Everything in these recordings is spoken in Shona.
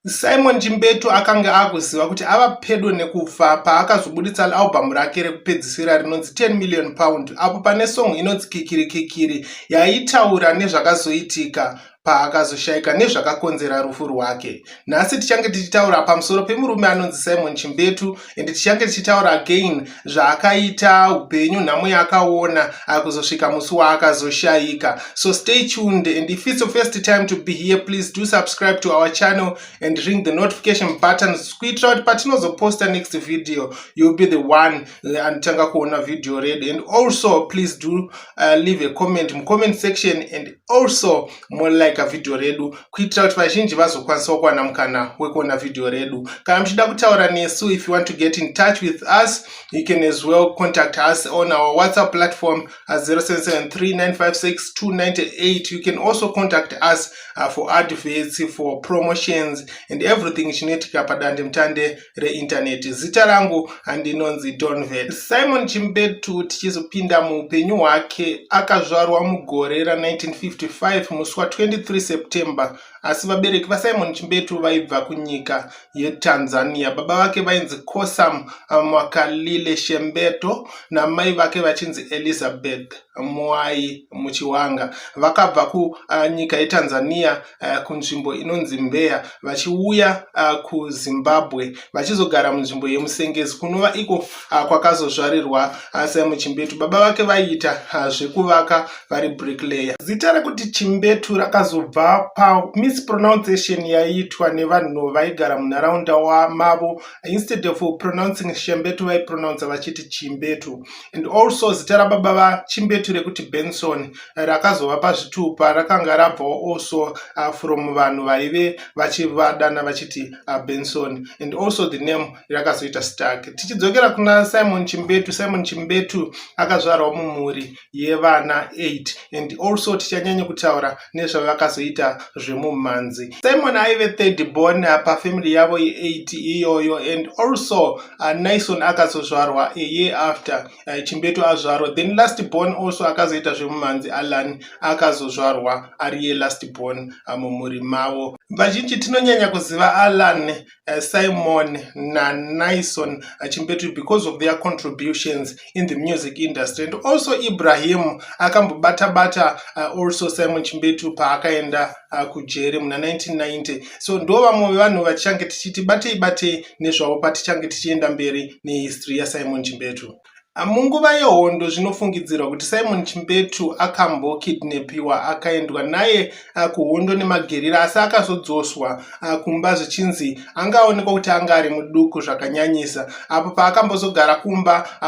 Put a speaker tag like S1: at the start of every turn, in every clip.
S1: Simon Chimbetu akange akuziva kuti ava pedo nekufa paakazobuditsa albhamu rake rekupedzisira rinonzi 10 million pound apo pane song inonzi kikiri kikiri yaitaura nezvakazoitika paakazoshaika nezvakakonzera rufu rwake. Nhasi tichange tichitaura pamusoro pemurume anonzi Simon Chimbetu and tichange tichitaura again zvaakaita upenyu nhamo yaakaona akuzosvika musi waakazoshaika so stay tuned and if it's your first time to be here please do subscribe to our channel and ring the notification button kuitira kuti patinozoposta next video you'll be the one uh, anotanga kuona video redu and also please do uh, leave a comment mucomment section and also molike vhidhiyo redu kuitira kuti vazhinji vazokwanisawo kuwana mukana wekuona vhidhiyo redu kana muchida kutaura nesu if you want to get in touch with us you can as well contact us on our whatsapp platform at 0773956298 you can also contact us uh, for adverts for promotions and everything chinoitika padandemutande reintaneti zita rangu handinonzi donvet simon chimbetu tichizopinda muupenyu hwake akazvarwa mugore ra1955 musi wa23 september asi vabereki vasimon chimbetu vaibva kunyika yetanzania baba vake vainzi kosam mwakalile shembeto namai vake vachinzi elizabeth mwai muchiwanga vakabva kunyika yetanzania uh, kunzvimbo inonzi mbeya vachiuya uh, kuzimbabwe vachizogara munzvimbo yemusengezi kunova iko uh, kwakazozvarirwa uh, simon chimbetu baba vake vaiita uh, zvekuvaka vari bricklayer zita rekuti chimbetu rakazobva pamispronunciation yaiitwa nevanhu vaigara munharaunda wamavo instead of pronouncing shembetu vaipronounce vachiti chimbetu and also zita rababa vachimbetu rekuti benson rakazova pazvitupa rakanga rabvawo also uh, from vanhu vaive vachivadana vachiti uh, benson and also the name rakazoita stark tichidzokera kuna simon chimbetu simon chimbetu akazvarwa mumhuri yevana 8 and also tichanyanya kutaura nezvavakazoita zvemumhanzi simon aive third born uh, pafamily yavo ye8 iyoyo and also uh, nison akazozvarwa a year after uh, chimbetu azvarwa then last born also akazoita zvemumhanzi alan akazozvarwa ariye last born uh, mumhuri mavo vazhinji tinonyanya kuziva alan uh, simon nanison uh, chimbetu because of their contributions in the music industry and also ibrahim akambobata bata uh, also simon chimbetu paakaenda uh, kujeri muna 1990 so ndo vamwe vevanhu vatichange tichiti batei batei nezvavo patichange tichienda mberi nehistory yasimon chimbetu ah, munguva yehondo zvinofungidzirwa kuti simon chimbetu akambokidnepiwa akaendwa naye ah, kuhondo nemagerira asi akazodzoswa ah, kumba zvichinzi anga aonekwa kuti anga ari muduku zvakanyanyisa apo paakambozogara kumba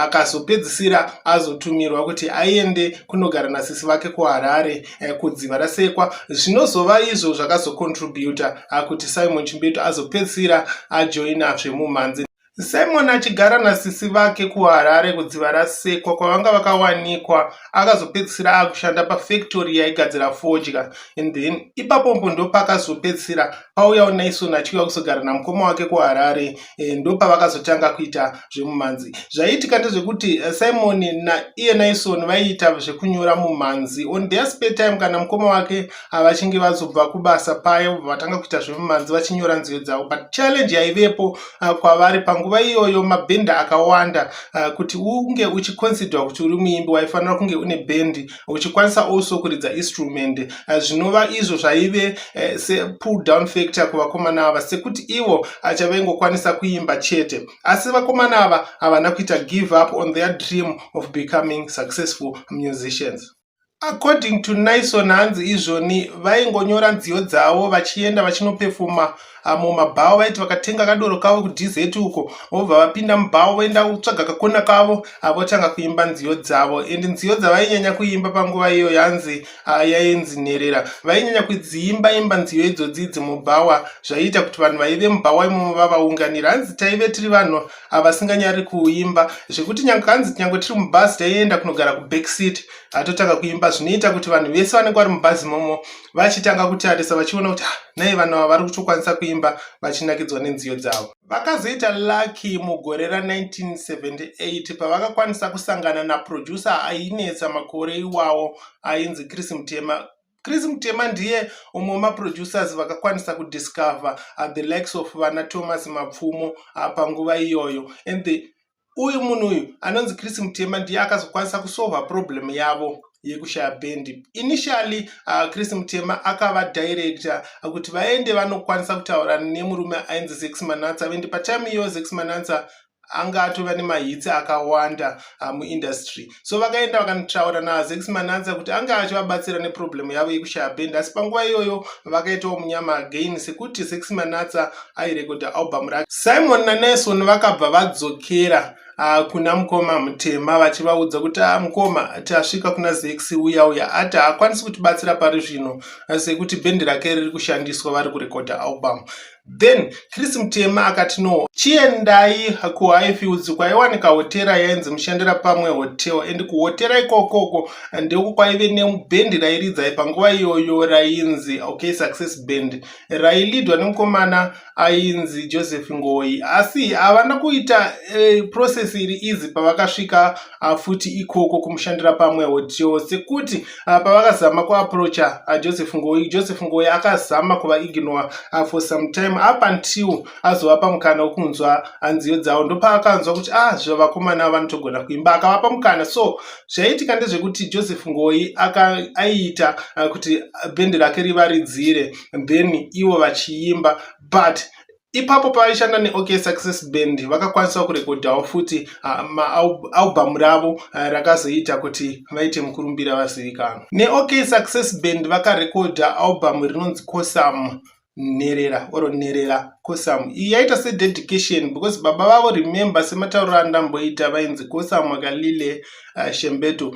S1: akazopedzisira azotumirwa kuti aende kunogara nasisi vake kuharare eh, kudziva rasekwa zvinozova izvo zvakazocontributa ah, kuti simon chimbetu azopedzisira ajoina zvemumhanzi simon achigara nasisi vake kuharare kudziva rasekwa kwavanga vakawanikwa akazopedzisira akushanda pafactory yaigadzira fodya and then ipapombo ndopakazopedzisira pauyawo naison achiuya kuzogara namukoma wake kuharare e, ndopavakazotanga kuita zvemumhanzi zvaiitika ndezvekuti eh, simon naiye naison vaiita zvekunyora mumhanzi on their spare time kana mukoma wake avachinge ah, vazobva kubasa paye vatanga kuita zvemumhanzi vachinyora nziyo dzavo but challenge yaivepo ah, kwavari panguva iyoyo mabhenda akawanda ah, kuti unge uchiconsidwa kuti uri muimbi waifanira kunge une bhendi uchikwanisa also kuridza instrument eh, zvinova izvo zvaive eh, sepull down factor kuvakomana ava sekuti ivo acha eh, vaingokwanisa kuimba chete asi vakomana ava havana kuita give up on their dream of becoming successful musicians according to nison hanzi izvoni vaingonyora nziyo dzavo vachienda vachinopefuma amo mabhawa vaiti vakatenga kadoro kavo kudz uko vobva vapinda mubhawa voenda kutsvaga kakona kavo avotanga kuimba nziyo dzavo and nziyo dzavainyanya kuimba panguva iyo yanzi ah, yainzi nherera vainyanya kudziimba imba nziyo idzodzidzi mubhawa zvaiita kuti vanhu vaive mubhawa imomo vavaunganira hanzi taive tiri vanhu avasinganyari kuimba zvekuti nyange hanzi nyange tiri mubhazi taienda kunogara kubackseat atotanga kuimba zvinoita kuti vanhu vese vanenge vari mubhazi imomo vachitanga kutarisa vachiona kuti ah, nei vanhu ava vari kutokwanisa kuimba vachinakidzwa nenziyo dzavo vakazoita lucky mugore ra1978 pavakakwanisa kusangana naproducer ainetsa makore iwawo ainzi chris mutema chris mutema ndiye umwe wemaproducers vakakwanisa kudiscover uh, the likes of vana thomas mapfumo uh, panguva iyoyo and the uyu munhu uyu anonzi chris mutema ndiye akazokwanisa kusolva problem yavo yekushaya bendi initially uh, chris mutema akava director kuti vaende vanokwanisa kutaura nemurume ainzi zex manatsa vendi patime iyo zex manatsa anga atova nemahitsi akawanda uh, muindustry so vakaenda vakanotaura nazex mananza kuti ange achivabatsira neproblemu yavo yekushaya bend asi panguva iyoyo vakaitawo munyama again sekuti zex manatsa airekodha album rake simon naneson vakabva vadzokera Ah, kuna mukoma mutema vachivaudza kuti ah, mukoma tasvika kuna zex uya uya ati haakwanisi kutibatsira pari zvino sekuti bhendi rake riri kushandiswa vari kurekodha album Then Chris Mutema akati no, chiendai kuHighfields kwaiwanika hotera yainzi Mushandira Pamwe Hotel and kuhotera ikokoko ndiko kwaive nebhendi rairidzai panguva iyoyo rainzi okay Success Band railidwa nemukomana ainzi Joseph Ngoyi asi havana kuita eh, process iri easy pavakasvika ah, futi ikoko kumushandira pamwewo tio sekuti ah, pavakazama kuaprocha ah, joseph ngoyi joseph ngoyi akazama kuva ignore for some time up until azovapa mukana wekunzwa nziyo dzavo ndopaakanzwa kuti a zvevakomana vanotogona kuimba akavapa mukana so zvaiitika ndezvekuti joseph ngoyi aiita kuti bhendi rake rivaridzire then ivo vachiimba but ipapo pavaishanda neok success band vakakwanisawo kurekodhawo futi maalbhamu ravo rakazoita kuti vaite mukurumbira vazivikanwa neok success band vakarekodha albhamu rinonzi cosam nherera or nherera cosam iyi yaita sededication because baba vavo remember sematauriro andamboita vainzi cosam akalile uh, shembeto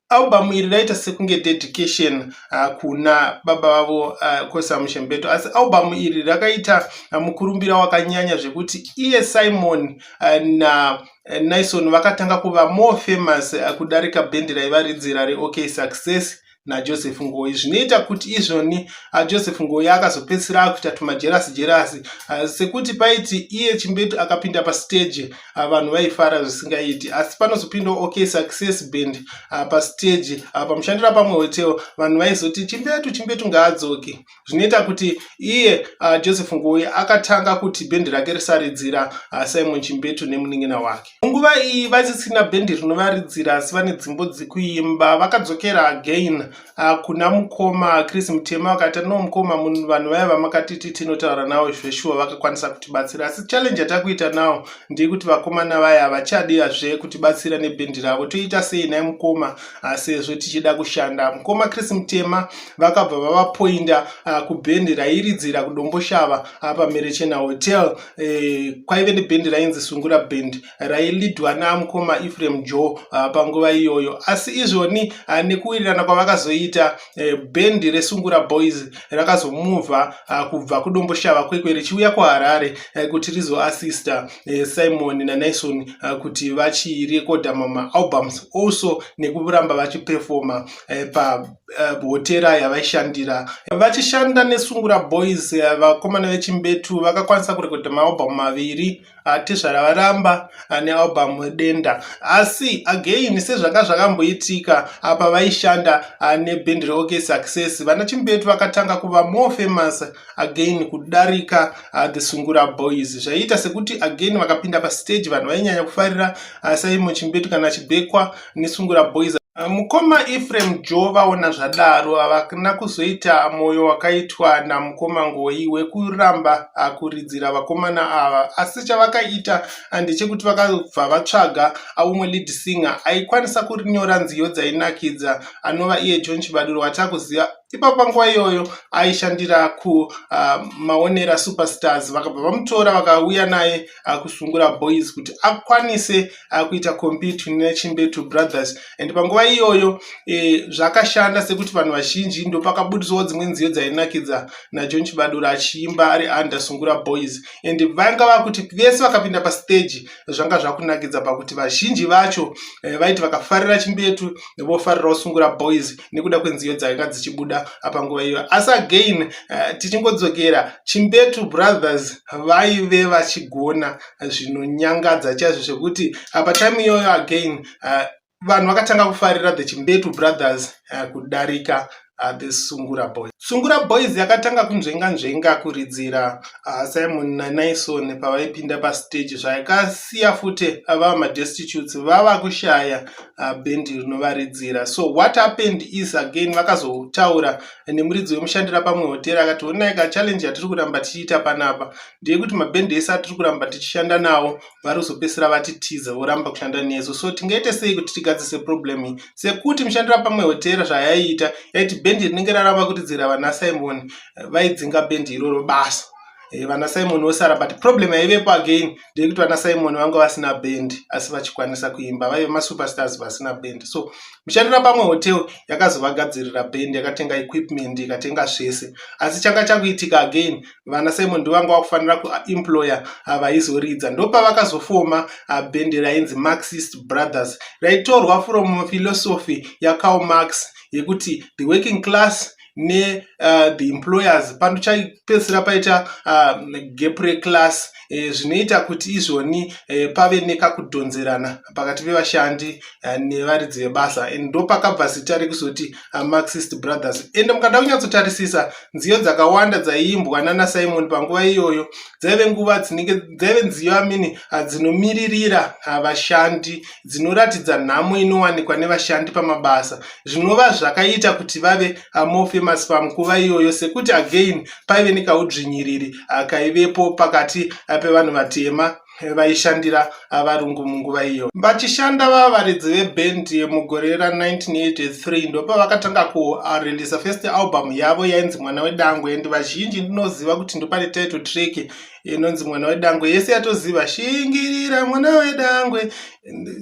S1: Album iri raita sekunge dedication uh, kuna baba vavo uh, Kosi Amushenbeto asi album iri rakaita uh, mukurumbira wakanyanya zvekuti iye Simon uh, na uh, Nison vakatanga kuva more famous uh, kudarika bhendi raivaridzira reOK Success najoseph ngoyi zvinoita kuti izvoni ah, joseph ngoyi akazopedzisira akuita tumajerasi jerasi ah, sekuti paiti iye chimbetu akapinda pasteji ah, vanhu vaifara zvisingaiti asi panozopindawo ok success band ah, pastage ah, pamushandira pamwe hotel vanhu vaizoti chimbetu chimbetu ngaadzoke zvinoita kuti iye joseph ngoyi akatanga kuti bhendi rake risaridzira simon chimbetu nemunin'ina wake munguva iyi vasisina bhendi rinovaridzira asi vane dzimbo dzekuimba vakadzokera again Ah, kuna mukoma chris mutema vakaita no mukoma munhu vanhu vaya vamakatiti tinotaura nawo zveshuwa vakakwanisa kutibatsira asi challenge yatakuita nawo ndeyekuti vakomana vaya havachadiyazve kutibatsira nebhendi ravo toita sei nai mukoma ah, sezvo tichida kushanda mukoma chris mutema vakabva vavapoinda ah, kubhendi rairidzira kudomboshava pamerechena hotel eh, kwaive nebhendi rainzi sungura bhendi railidwa namukoma efrem jo uh, ah, panguva iyoyo asi izvoni uh, nekuwirirana kwavakazoita uh, bhendi resungura boys rakazomuvha uh, kubva kudomboshava kwekwe richiuya kuharare uh, kuti rizoassista uh, simon nanaison uh, kuti vachirekodha mamaalbums also nekuramba vachipefoma uh, pa Eh, hotera yavaishandira vachishanda nesungura boys eh, vakomana vechimbetu vakakwanisa kurekodha maalbum maviri ah, tezvara varamba ah, nealbum denda asi again sezvanga zvakamboitika ah, pavaishanda nebhendi reok success vana chimbetu vakatanga kuva more famous again kudarika the sungura boys zvaiita sekuti again vakapinda pastage vanhu vainyanya kufarira saimo chimbetu kana chibekwa nesungura boys mukoma efrem jo vaona zvadaro havana kuzoita mwoyo wakaitwa namukoma ngoyi wekuramba akuridzira vakomana ava asi chavakaita ndechekuti vakabva vatsvaga aumwe lead singer aikwanisa kurinyora nziyo dzainakidza anova iye john chibaduro watakuziva ipapo panguva iyoyo aishandira kumaonera ah, uh, superstars vakabva vamutora vakauya naye uh, kusungura boys kuti akwanise uh, kuita compete nechimbetu brothers and panguva iyoyo eh, zvakashanda sekuti vanhu vazhinji ndopakabudiswawo dzimwe nziyo dzainakidza najohn chibadura achiimba ari under sungura boys and vanga vakuti vese vakapinda pastage zvanga zvakunakidza pakuti vazhinji vacho eh, vaiti vakafarira chimbetu vofarirawo sungura boys nekuda kwenziyo dzanga dzichibuda panguva iyo asi again uh, tichingodzokera chimbetu brothers vaive vachigona zvinonyangadza chaizvo zvekuti uh, patime iyoyo again uh, vanhu vakatanga kufarira the chimbetu brothers uh, kudarika uh, the sungura boys sungura boys yakatanga kunzvenga nzvenga kuridzira uh, simon nanaison pavaipinda pastage zvayakasiya futi vava madestitutes vava kushaya uh, band rinovaridzira so what happened is again vakazotaura nemuridzi wemushandira pamwe hoteri akati onai ka challenge yatiri kuramba tichiita panapa ndeyekuti mabhendi ese atiri kuramba tichishanda nawo vari kuzopesera vati tiza voramba kushanda nesu so tingaite sei kuti tigadzise problem iyi sekuti mushandira pamwe hoteri zvayaiita yaiti bhendi rinenge raramba kuridzira vana simon eh, vaidzinga bhendi iroro basa eh, vana simon vosara but problem yaivepo again ndekuti vana simon vanga vasina band asi vachikwanisa kuimba vaive masuperstars vasina band so mushandira pamwe hotel yakazovagadzirira band yakatenga equipment ikatenga zvese asi changa chakuitika again vana simon ndovanga vakufanira kuemployer avaizoridza ndopavakazofoma ah, band rainzi marxist brothers raitorwa from philosophy yakaomax yekuti the working class ne uh, the employers panochapedzisira paita uh, gap reclass eh, zvinoita kuti izvoni eh, pave nekakudhonzerana pakati pevashandi uh, nevaridzi vebasa and ndo pakabva zita rekuzoti uh, marxist brothers ende mukada kunyatsotarisisa nziyo dzakawanda dzaiimbwa nana simon panguva iyoyo dzaive nguva dzinenge dzaive nziyo amini uh, dzinomiririra uh, vashandi dzinoratidza nhamo inowanikwa nevashandi pamabasa zvinova zvakaita kuti vave amore famous pamukuva iyoyo sekuti again paive nekaudzvinyiriri ah, kaivepo pakati ah, pevanhu vatema vaishandira varungu munguva iyo vachishanda vavaridzi veband mugore ra 1983 ndopavakatanga kurelisa first album yavo yainzi mwana wedangwe and vazhinji ndinoziva kuti ndopane title track inonzi mwana wedangwe yese yatoziva shingirira mwana wedangwe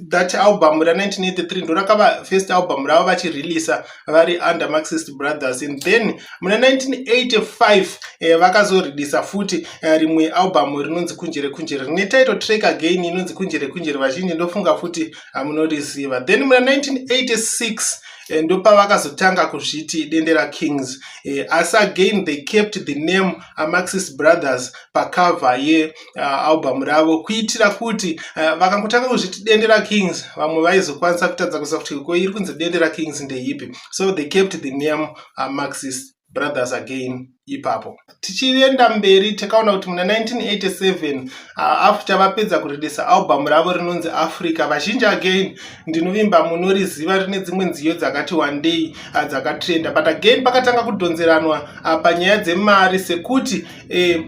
S1: that album ra 1983 ndorakava first album ravo vachireleasa vari under marxist brothers and then muna 1985 eh, vakazoreleasa futi eh, rimwe album rinonzi kunjere kunjere rine title track again inonzi kunjere kunjere vazhinji ndofunga futi hamunoriziva then muna 1986 Eh, ndopavakazotanga kuzviti dendera kings eh, asi again they kept the name amaxis brothers pacova yealbum uh, ravo kuitira kuti uh, vakangotanga kuzviti dendera kings vamwe vaizokwanisa kutadza kuziva kuti ko iri kunzi dendera kings ndeipi so they kept the name amaxis uh, brothers again ipapo tichienda mberi takaona kuti muna 1987 after vapedza kuridisa album ravo rinonzi africa vazhinji again ndinovimba munoriziva rine dzimwe nziyo dzakati wandei ah, dzakatrenda but again pakatanga kudhonzeranwa ah, panyaya dzemari sekuti eh,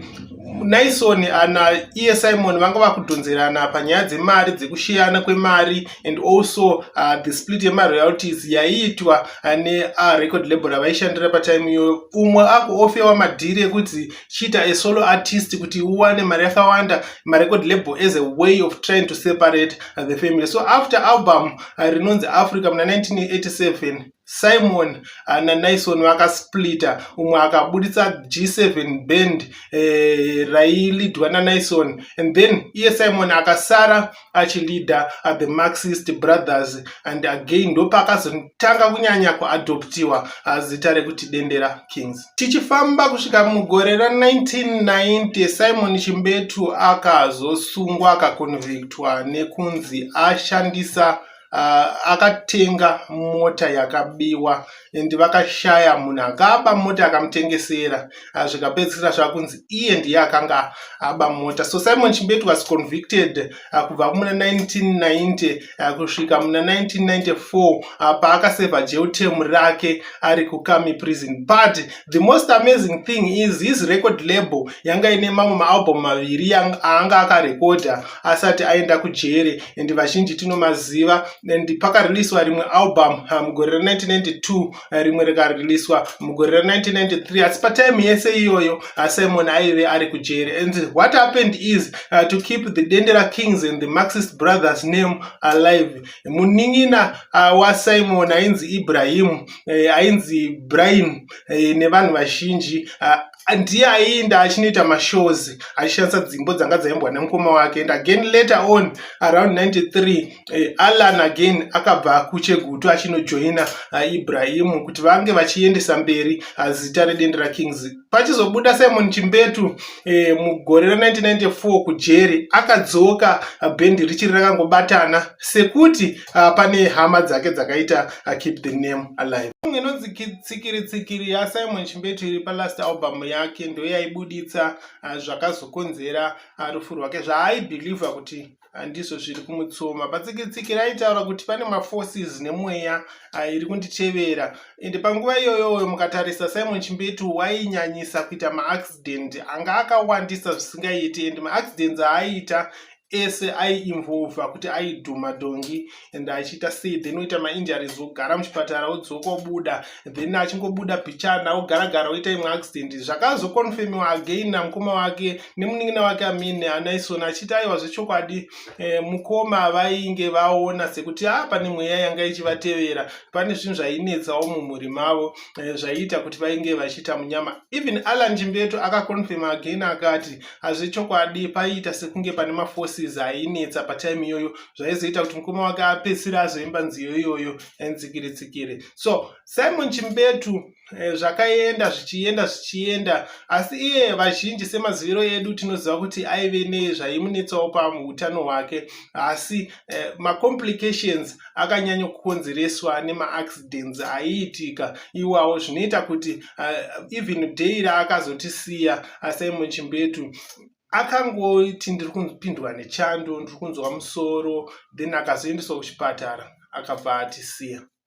S1: naison ana iye simon vanga vakudhonzerana panyaya dzemari dzekushiyana kwemari and also uh, the split yemaroyalties yaiitwa uh, nerecord uh, label ravaishandira patime iyoyo umwe ako ofewa madhiri ekuti chiita a solo artist kuti uwane mari yakawanda marecord label as a way of trying to separate the family so after album uh, rinonzi africa muna 1987 simon uh, nanaison vakasplita umwe akaburitsa g7 band eh, railidwa nanaison and then iye simon akasara achilida at the marxist brothers and again ndopaakazotanga kunyanya kuadoptiwa azita rekuti dendera kings tichifamba kusvika mugore ra 1990 simon chimbetu akazosungwa akaconvictwa nekunzi ashandisa uh, akatenga mota yakabiwa and vakashaya munhu akaba mota akamutengesera uh, zvikapedzisira zvakunzi iye ndiye akanga aba mota so simon chimbetu was convicted uh, kubva muna 1990 uh, kusvika muna 1994 uh, paakaseva jeutem rake ari kukami prison but the most amazing thing is his record label yanga ine mamwe maalbum maviri aanga akarekodha asati aenda kujere and vazhinji tinomaziva and pakareleaswa rimwe album ah, mugore ra1992 ah, rimwe rikareleaswa mugore ra1993 asi patime yese iyoyo ah, simon aive ari kujere and what happened is uh, to keep the dendera kings and the maxist brothers name alive munin'ina ah, wasimon ainzi ibrahim eh, ainzi brahim eh, nevanhu vazhinji ah, ndiye aiinda achinoita mashows achishandisa dzimbo dzanga dzaimbwa nemukoma wake and again later on around 93 eh, allan again akabva kuchegutu achinojoina uh, ibrahimu kuti vange vachiendesa mberi uh, zita redendera kings pachizobuda simon chimbetu eh, mugore ra1994 kujeri akadzoka ah, bhendi richiri rakangobatana sekuti ah, pane hama dzake dzakaita ah, keep the name alive song inonzi tsikiri tsikiri yasimon chimbetu iri palast album yake ndoyaibuditsa ah, zvakazokonzera ah, rufu rwake zvaaibhilivha kuti handizvo zviri kumutsoma patsikitsiki raitaura kuti pane maforces nemweya ah, iri kunditevera ende panguva iyoyoyo mukatarisa simon chimbetu wainyanyisa kuita maaccident anga akawandisa zvisingaiti ende maaccidents aaiita ese aiinvolva kuti aidhuma dhongi and achiita sei then oita mainjuries ogara muchipatara odzoka obuda then achingobuda pichana ogara gara oita imwe accident zvakazoconfirmiwa again namukoma wake nemunin'ina wake amine anaison achiita aiwa zvechokwadi eh, mukoma vainge vaona sekuti a ah, pane mweya yanga ichivatevera pane zvinhu zvainetsawo mumhuri mavo eh, zvaiita kuti vainge vachiita munyama even alan chimbeto akaconfirma again akati hazvechokwadi paiita sekunge pane maforces ainetsa patime iyoyo zvaizoita kuti mukoma wake apedzisire azoimba nziyo iyoyo nzikiri tsikiri so simon chimbetu eh, zvakaenda zvichienda zvichienda asi iye vazhinji semaziviro edu tinoziva kuti aive nezvaimunetsawo pautano hwake asi eh, macomplications akanyanya kukonzereswa nemaaccidents aiitika iwawo zvinoita kuti eh, even day raakazotisiya asimon chimbetu akangoti ndiri kupindwa nechando ndiri kunzwa musoro then akazoendeswa kuchipatara akabva atisiya